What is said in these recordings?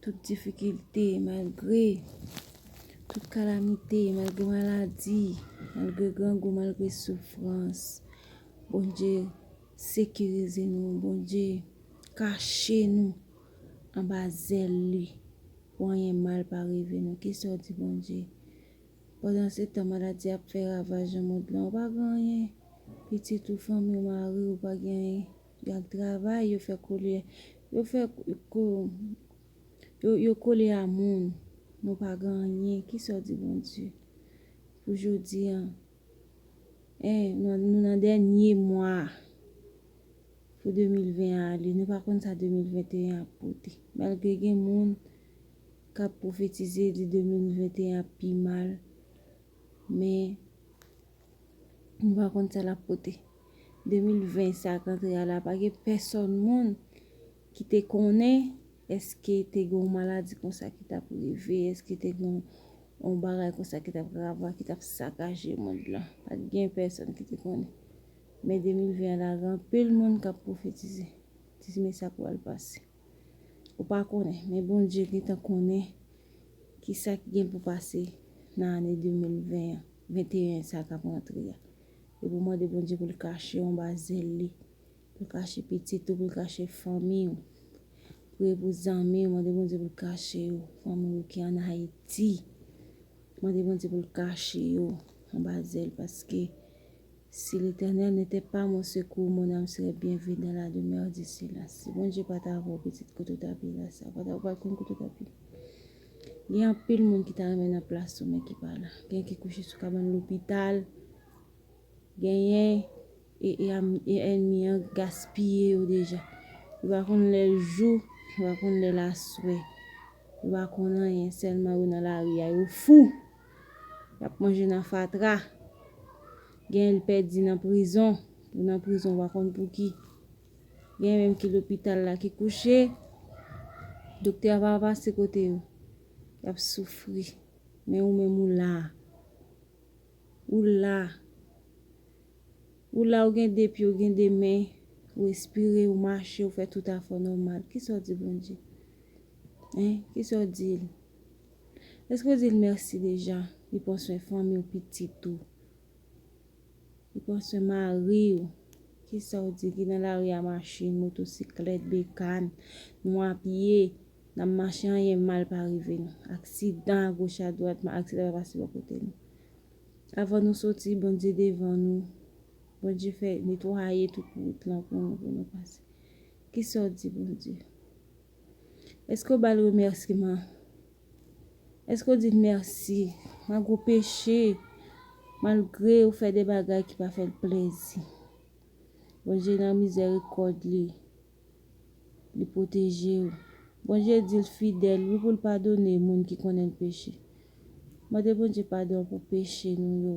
Tout difikilte, malgre, tout kalamite, malgre maladi, malgre grangou, malgre soufrans, Bondye sekirize nou, Bondye kache nou anba zèl li pou anyen mal pa rive nou. Ki sa w di Bondye? Pandan se tan maladi ap fè ravaj nan mond lan, w pa gen anyen? Pitit ou, fanmi w, mari w, pa gen anyen? Yap travay yo fè kole yo fè ko yo kole a moun nou pa gen anyen kisa w di Bondye pou jodi an en nou nan dènye mwa pou 2020 an ale nou pa konn sa 2021 ap pote malgre gen moun kap pwofetize di 2021 ap pi mal men. Nou pa konn sa lap pote. 2020 sa k antre a la pa gen pèsòn moun ki te konnen èske te gen yon maladi konsa ki tap rive, èske te gen yon bagay konsa ki tap grave, ki tap sakaje mond lan. Pa t gen pèsòn ki te konnen. Men 2020 an la gen anpil moun kap pwofetize. Di men sa k pral pase. Ou pa konnen, men Bondye gentan konnen ki sa ki gen pou pase nan ane 2020 an, 21 sa k ap rantre a. E pou w mande Bondye pou l kache w anba zèl li, pou l kache pitit ou, pou l kache fanmi ou. Priye pou zanmi ou, mande Bondye pou l kache yo, fanmi ou ki an Ayiti. Mande Bondye pou l kache yo anba zèl paske Si Letènèl n'etè pa mon sekou, mon àm serè byen vit dan la demèr di sila. Si Bondye pa ta avè w pitit kote w ta pi la sa, ou pa konn kote w ta pi. Gen anpil moun ki ta renmen nan plas ou men ki pa la. Gen ki kouche sou kabann lopital, genyen e ènmi an gaspiye yo deja. Yo pa konn lè l jou, yo pa konn lè l aswè, yo pa konn anyen sèlman yo nan lari a yo fou. Yap manje nan fatra. Genyen li pèdi nan prizon. Li nan prizon ou pa konn pou ki. Genyen menm ki lopital la ki kouche. Doktè a pa pase kote yo. Yap soufri. Men ou menm ou la. Ou la. Ou la ou gen 2 pye ou gen 2 men. Ou espire ou mache ou fè tout afè nòmal. Kisa ou di Bondye? Hein? Kisa ou di l? Eske ou dil merci deja? Li pran swen fanmiw pitit ou Li pran swen mariw Kisaw di ki nan lari a machin moto siklèt bekàn Nou a pye Nap mache anyen mal pa rive nou Aksidan a goch a dwat men aksidan pa pase bò kote nou Avan nou soti Bondye devan nou Bondye fè netwaye tout wout lan pou nou pou nou pase Kisaw di Bondye? Eske w ba l remèsiman? Eske w di l mèsi malgre w peche, malgre w fè de bagay ki pa fè l plezi? Bondye nan mizèrikòd li, li pwoteje w. Bondye di l fidèl wi pou l padone moun ki konnen l peche. Mande Bondye padon pou peche nou yo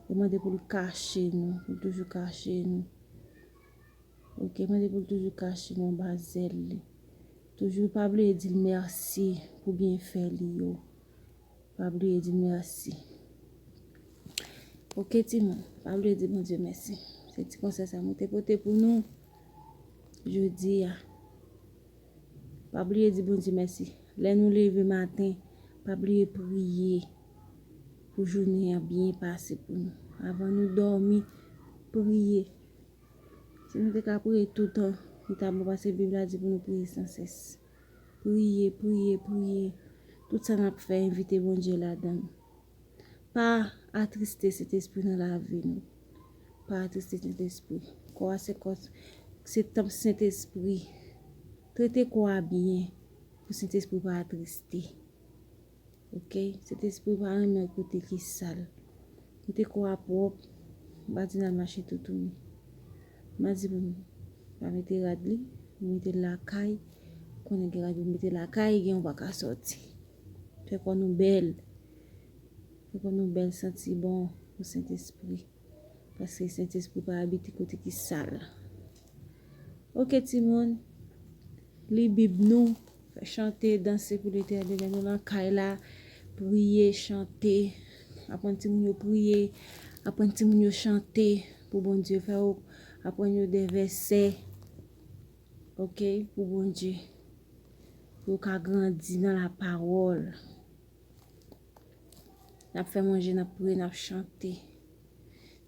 e mande pou l kache nou, pou l toujou kache nou. Ok mande poul toujou kache non ba zel li. Toujou pa bliye dil merci pou byen fè li yo. Pa bliye dil merci. Ok ti moun pa bliye di bon Dieu merci. Se ti konsey sa mwen te pote pou nou jodi a. Pa bliye di bon Dieu merci. Lè nou leve maten pa bliye priye pou jounen an byen pase pou nou. Avan nou domi priye. Si nou te ka priye toutan, li ta bon paske Bib la di pou nou priye san sès. Priye, priye, priye. Tout sa n ap fè, envite Bondye ladan l. Pa atriste Sentespri nan lavi nou. Pa atriste Sentespri. Kò a se kò, se tanp Sentespri. Trete kò a byen pou Sentespri pa atriste. Ok sentespri ou pa renmen kote ki sal kote kò a pwòp ou pa di nal mache toutouni madi pou nou pa mete rad li nou metel lakay konnen gen rad yo mete lakay gen ou pa ka sòti fè kò nou bèl fè kò nou bèl santi bon pou sentespri. Paske Sentespri pa abite kote ki sal. Ok timoun, li bib nou, fè chante, danse pou Letènèl, nou nan kay la, priye, chante, aprann timoun yo priye, aprann timoun yo chante pou Bondye fè yo, aprann yo de vèsè, ok, pou Bondye, pou yo ka grandi nan la pawòl. Nap fè manje, nap priye, nap chante.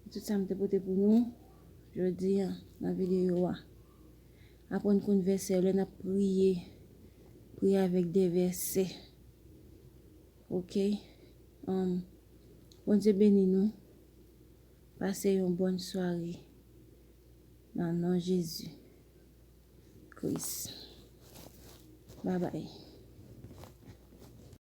Se tout sa m te pote pou nou jodi an nan videyo a. Aprann konn vèsè yo lè nap priye. Priye avèk de vèsè. Ok. Bondye beni nou. Pase yon bòn sware nan non Jezi Kris. Babay.